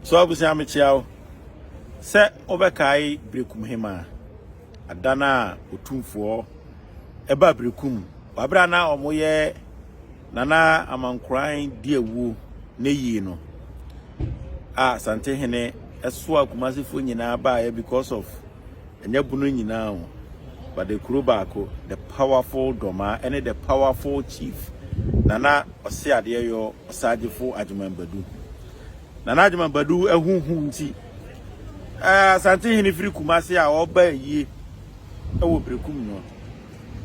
So abusua mekyia wo. Sɛ wobɛkae Berekum Hema ada no a otumfoɔ ɛba Berekum wabere a na wɔyɛ Nana Amankoran di awuo ne yie no a Santehene ɛsoa Kumasefoɔ nyinaa baeɛ because of ɛnyɛ bono nyinaa o but the kuro baako the powerful dɔmaa ɛne the powerful chief Nana Ɔseadeɛ yɔ Ɔsagyefo Agyeman Badu Nana Agyeman Badu ahu hu nti, eh, Asantehene firi Kumase a ɔba ayie wɔ Berekum no,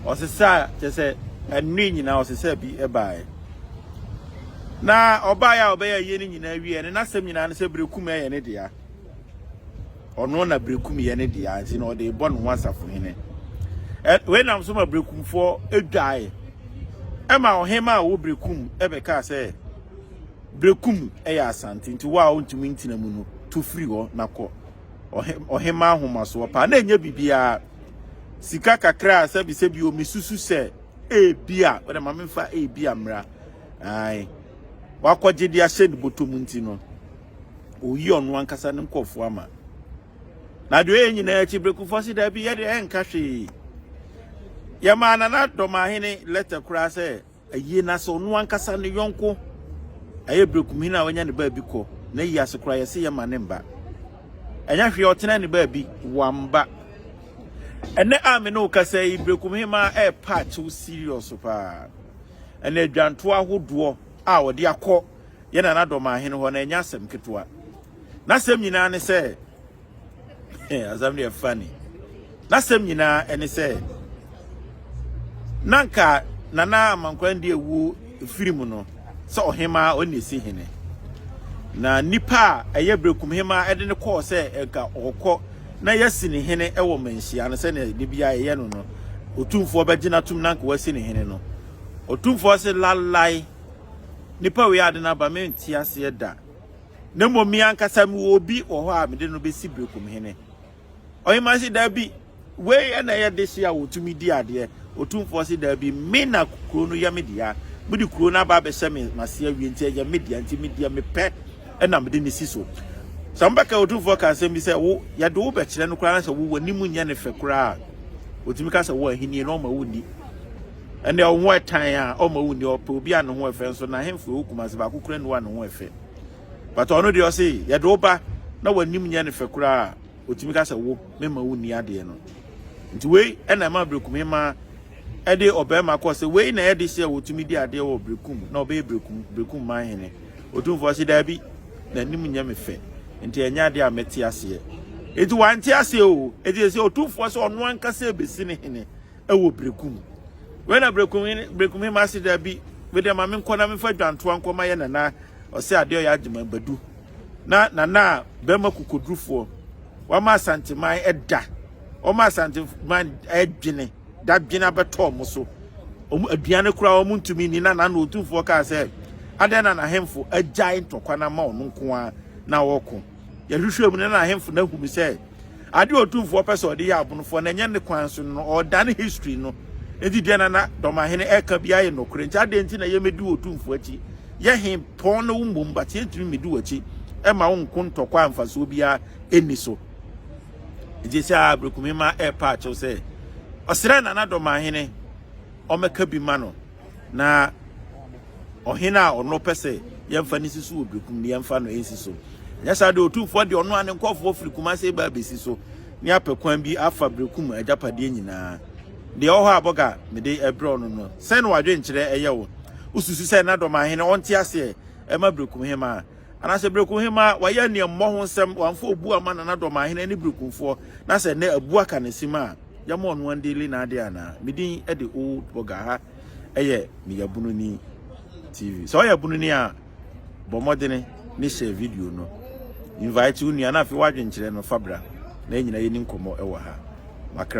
ɔsesaa kyɛ sɛ ɛnne nyinaa ɔsesaa bi baeɛ. Na ɔbaeɛ a ɔbɛyɛ ayie no nyinaa wie ne n'asɛm nyinaa ne sɛ Berekum yɛ ne dea. Ɔno na Berekum yɛ ne dea nti na ɔde bɔ ne ho asafohene. Wei nam so ma Berekumfoɔ dwae. Ɛma ɔhema a ɔwɔ Berekum bɛkaa sɛ Bereku mu yɛ asante, nti wo a ontumi ntena mu no, tu firi hɔ na kɔ. Ɔhemmaa ahomasoɔ paa na ɛnyɛ biribiara. Sika kakra a sɛbisɛbi o, mesusu sɛ ebia, wode ma memfa ebia mmra, ae, wakɔgye de ahyɛ ne bɔtɔ mu nti no, ɔyi ɔno ankasa ne nkurɔfoɔ ama. Na deɛ ɔyɛ nyinaa akyi, Berekufoɔ se daabi, yɛde ɛnka hwee. Yɛmaa Nana Dɔmahene lɛtɛ koraa sɛ, Ayie na sɛ ɔno ankasa ne yɔnko ɛyɛ brɛkumhini a wanya ne baabi kɔ na yi ase koraa yɛse yɛma ne mba ɛnyɛ hwee ɔtena ne baabi wamba ɛnɛ a me ne wo kasa yi brɛkumhemaa ɛɛpa akyew serious paa ɛna adwantoɔ ahodoɔ a ɔde akɔ yɛ nana dɔmaahene hɔ na ɛnyɛ asɛm ketewa n'asɛm nyinaa ne sɛ asɛm deɛ funny n'asɛm nyinaa ɛne sɛ na nka nana amankwaa di ewu firi mu no sɛ ɔhemaa ɔne esi hene na nipa a ɛyɛ berekum hemaa ɛde ne kɔɔ sɛ nka ɔkɔ na yɛsi ne hene ɛwɔ mmanhyia no sɛnea ne bia ɛyɛ no no otumfoɔ bɛgyina tum na nka wasi ne hene no otumfoɔ se lalae nipa wei ade no aba mente aseɛ da na mmom me ankasa mewɔ obi wɔ hɔ a mede no bɛsi berekomhene. Ɔhemmaa se, Daabi, wei ɛna ɛyɛ dehye a wɔtumi di adeɛ. Otumfoɔ se, Daabi, me na kuro no yɛ me dea. Mode kuro no aba abɛhyɛ me mase awie, nti ɛyɛ me dea, nti me deɛ mepɛ ɛna mede no si so. Sɛ mobɛka Otumfoɔ ka asɛm bi sɛ wo yɛde wo bɛkyerɛ no koraa na sɛ wo w'anim nyɛ ne fɛ koraa a, wɔtumi ka sɛ wɔ ahennie na ɔma wonni. Ɛnde wo ho ɛtan a ɔma wo nni ɔpɛ obi a ne ho ɛfɛ nso na henfo ɛwɔ Kumasi baako kura nni a ne ho ɛfɛ but ɔno deɛ ɔse yɛde wo ba na w'anim nyɛ ne fɛ koraa a ɔtumi ka sɛ wo memma wo nni adeɛ no nti wei ɛna ɛma Berekum hemaa ɛde ɔbarima kɔɔ sɛ wei na ɛyɛ de sɛ wɔtumi di adeɛ wɔ Berekum na ɔbɛyɛ Berekum Berekum man hene ɔtumfoɔ se daabi n'anim nyɛ me fɛ nti ɛnyɛ adeɛ a mɛte aseɛ nti wante aseɛ o ɛti sɛ ɔtumfoɔ sɛ ɔno ankasa ɛbɛsi ne hene wɔ Berekum. Wei na Berekum hene, Berekum hema se daabi, me deɛ ma menkɔ na memfa dwantoa nkɔ ma yɛ nana ɔsɛ adeɛ ɔyɛ agyeman badu. Na nana a bɛrima kokodurufoɔ wama asanteman ɛda, wɔma asanteman adwene, dadwene abɛtɔ wɔn so. Wɔn aduane koraa wɔn ntumi nni na nana otumfoɔ kaa sɛ adɛn na n'ahemfo agyae ntɔkwa no ama ɔno nko ara na ɔreko. Yɛhwehwɛɛ mu no, na ahemfo no ahu no sɛ ade a otumfoɔ pɛ sɛ ɔde yɛ abonofoɔ na ɛnyɛ ne kwan so no, ɔredane history no. Enti deɛ na na Dɔmahene ɛka biara yɛ nokorɛ. Nti adɛn nti na yɛmmɛdi otumfoɔ akyi? Yɛ he pɔn ne wo mmom, but yɛntumi mmɛdi w'akyi ɛma wo nko ntɔkwa a mfasoɔ biara ɛnni so. Nti sɛ a Aberekumema ɛrepa akyew sɛ ɔsrɛ Nana Dɔmahene ɔmmɛka bi ma no. na ɔhene a ɔno pɛ sɛ yɛmfa no si so wɔ bekum no yɛmfa no nsi so nyɛ saa de otumfoɔ de ɔno a ne nkɔfoɔ firi kumase ba abɛsi so ne apɛ kwan bi afa bekum agyapadeɛ nyinaa deɛ ɔhɔ a bɔga mede ɛbrɛ ɔno no sɛn na wadwenkyerɛ ɛyɛ wo wosusu sɛ na dɔm ahene ɔnte aseɛ ɛma bekum hema a anaasɛ berekum hema wayɛ nea mmɔ ho nsɛm wamfa obu ama nana dɔm ahene ne berekumfoɔ na sɛ nnɛ abu aka ne sim a yɛma ɔno andeli n'ade anaa me din de old boga ha ɛyɛ me yabunu ni tv sɛ ɔyɛ bunu ni a bɔ mmɔdene ne share video no invite wo nua na afei wadwenkyerɛ no fabra na ɛnyina yɛni nkɔmmɔ ɛwɔ ha makra